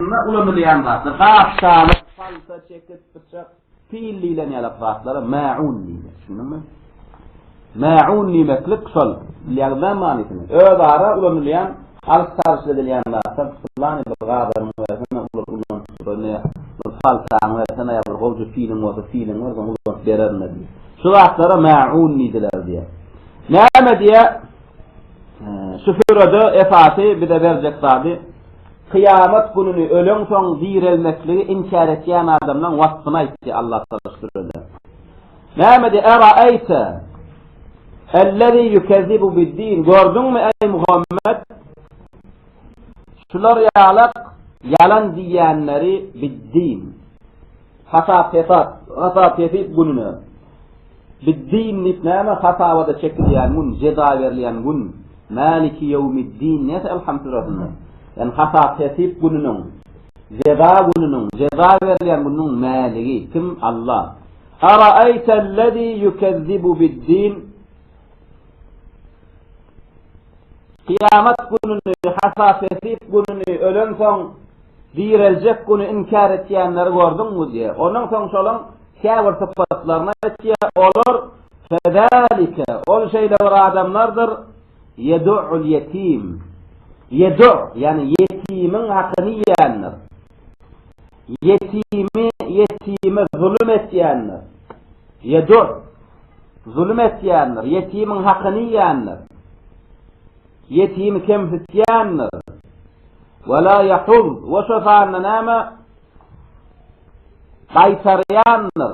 Onda ulanylýan zatlar, gap, çanak, palta, çekiç, pyçak, pil diýlen ýalak zatlara mäun diýilýär. Düşündiňmi? Mäun diýmeklik şol. Bilýäňizmi manysyny? Özara ulanylýan, alyş-çalyş edilýän zatlar, pylany bir gabam bersene, ulat, ulanyp durun, ýa bir paltaňy bersene, ýa bir gowja piliň bolsa, piliňi berseň, ulanyp bererin-le diýip. Şu zatlara mäun diýdiler diýýär. Näme diýýär? Şu sürede esasy bize berjek zady, Kyýamat gününi, öleňsoň direlmekligi inkär etýän adamlaň waspyny aýtdy, Allah salyşdyrdy. Nämedi? Eraeýte ellezî ýukezzibu biddîn, gördüňmi, eý Muhammet, şular ýalak ýalan diýýänleri, biddîn. Hasap-hesap, hasap-hesip gününe. Bid-din diýip näme hasabada çekilýän gün, jeza berilýän gün. Mäliki ýewmid-din diýýär Elham süresinde. Ýani hasap-hesip gününiň, jeza gününiň, jeza berilýän gününiň mäligi, kim? Alla. Araeýtel-lezî ýukezzibu bid-din. Kyýamat gününi, hasap-hesip gününi, ölensoň direljek güni inkär etýänleri gördüňmi? diýýär. Ondan soň şolaň käbir sypatlaryny aýtýar, olar, Fezälike, ol şeýle bir adamlardyr, ýedu'ul ýetim. Ýedu', ýagny ýetimiň hakyny iýendir. Ýetimi ýetime zulum etýändir. Ýedur, zulum etýändir, ýetimiň hakyny iýýändir. Ýetimi kemsitýändir. We la ýahud, we şo sanda näme? Gaýtarýandyr.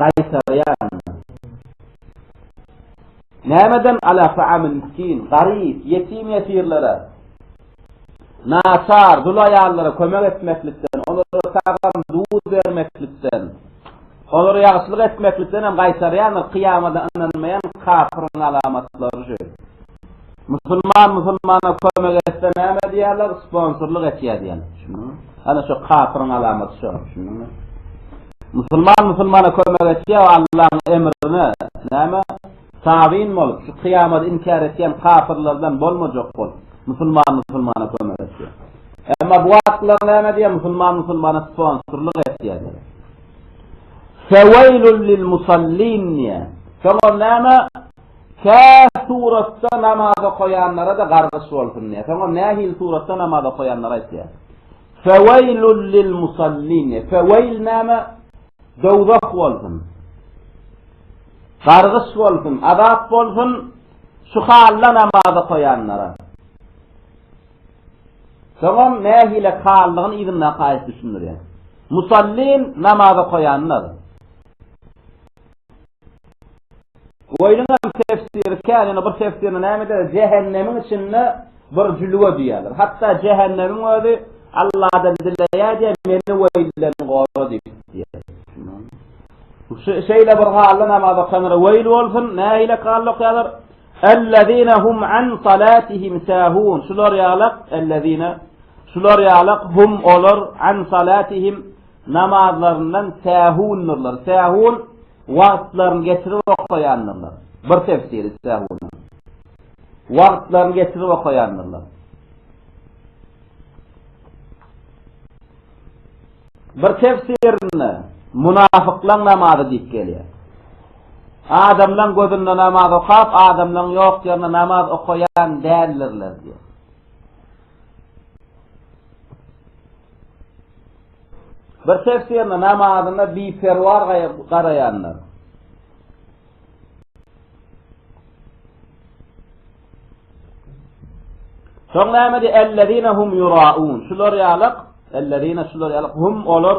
Gaýtarýaryn. Nämeden ala ta'amil miskin, garyp, ýetim-ýesirlere, naçar, dul aýallara kömek etmeklikden, olara tagam, duz bermeklikden, olara ýagşylyk etmeklikden hem gaýtarýaryn, kyýamada ynanmaýan kapyryň alamatlary şu. Musulman musulmana kömek etse näme diýerler, sponsorlyk etýär diýerler. Düşündiňmi? Ana şu kapyryň alamaty şu. Düşündiňmi? Musulman musulmana kömek etýär Allahyň emrine. Näme? Tabyn bolup, şu kyýamaty inkär etýän kapyrlardan bolmajak bolup, musulman musulmana kömek etýär. Emma bu wagtlar näme diýýär? Musulman musulmana sponsorlyk etýär. Feweýlul lil musallin diýýär. Soňra näme? Kä suratda namaz okaýanlara-da gargyş bolsun diýýär. Soňam nähili suratda namaz okaýanlary aýtýar. Feweýlul lil musallin diýýär. Feweýl näme? Dowzah bolsun. Gargyş bolsun, azap bolsun şu halda namaz okaýanlara. Soňam nähili haldygyny yzyndaky aýat düşündirýär. Musallin namaz okaýanlar. Bu aýdyňam tefsiri kän, ýöne bir tefsirinde näme diýýär? Jähennemiň içinde bir jülge diýýärler. Hatda jähennemiň özi Alladan dileýär diýýär, meni we illerini gora diýip diýýär. Şeýle bir halda namaz okanlara weýl bolsun, nähili halda okaýarlar? Ellezine hum an salatihim sahun. Şular ýalak, ellezine. Şular ýalak hum olar an salatihim Namazlaryndan sähundyrlar. Sähun, wagtlaryny geçirip okaýandyrlar. Bir tefsiri sähunyň. Wagtlaryny geçirip okaýandyrlar. Bir tefsirinde munafyklaň namazy diýip gelýär. Adamlaň gözünde namaz okap, adamlaň ýok ýerinde namaz okaýan däldirler diýýär. Bir tefsirine namazyna biperwar garaýanlar. Soň näme diýdi? Ellezina hum yuraun. Şular ýalyk, ellezina şular ýalyk hum olar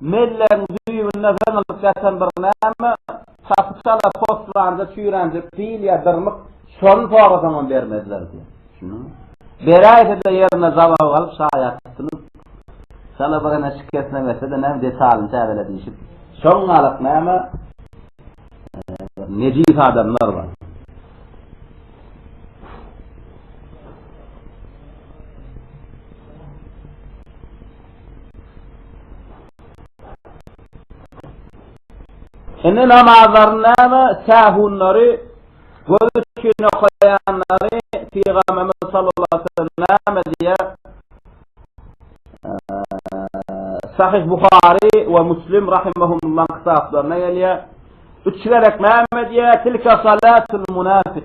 Mellegiň düýbünde zyňylyp ýatan bir näme, çapy çala postlanda çüýränjek pil ýa dyrmyk, şony sorasaňam bermezler diýýär. Düşündiňmi? Beräýse-de ýerinde jababy galyp şaýat tutulyp, çala birine şikesine berse-de näme, detalyny täzele diýşip, şoňňalak näme, bir nejis adamlar bar. Indi namazlaryny näme sähunlary göz üçin okaýanlary pygamberimiz sallallahu aleyhi ve sellem näme diýýär? Sahih Buhari we Muslim rahimehumullaň kitaplaryna gelýär. Üç gerek näme diýýär? Tilka salatul munafik.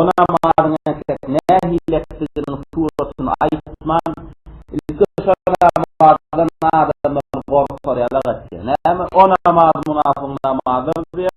Onam mazyň äkidip, nähili etdiginiň suratyny aýtman, ilki şonda mazydan adamlar gorkar ýaly etdi. Näme, onam maz munapygyň namazydyr diýip,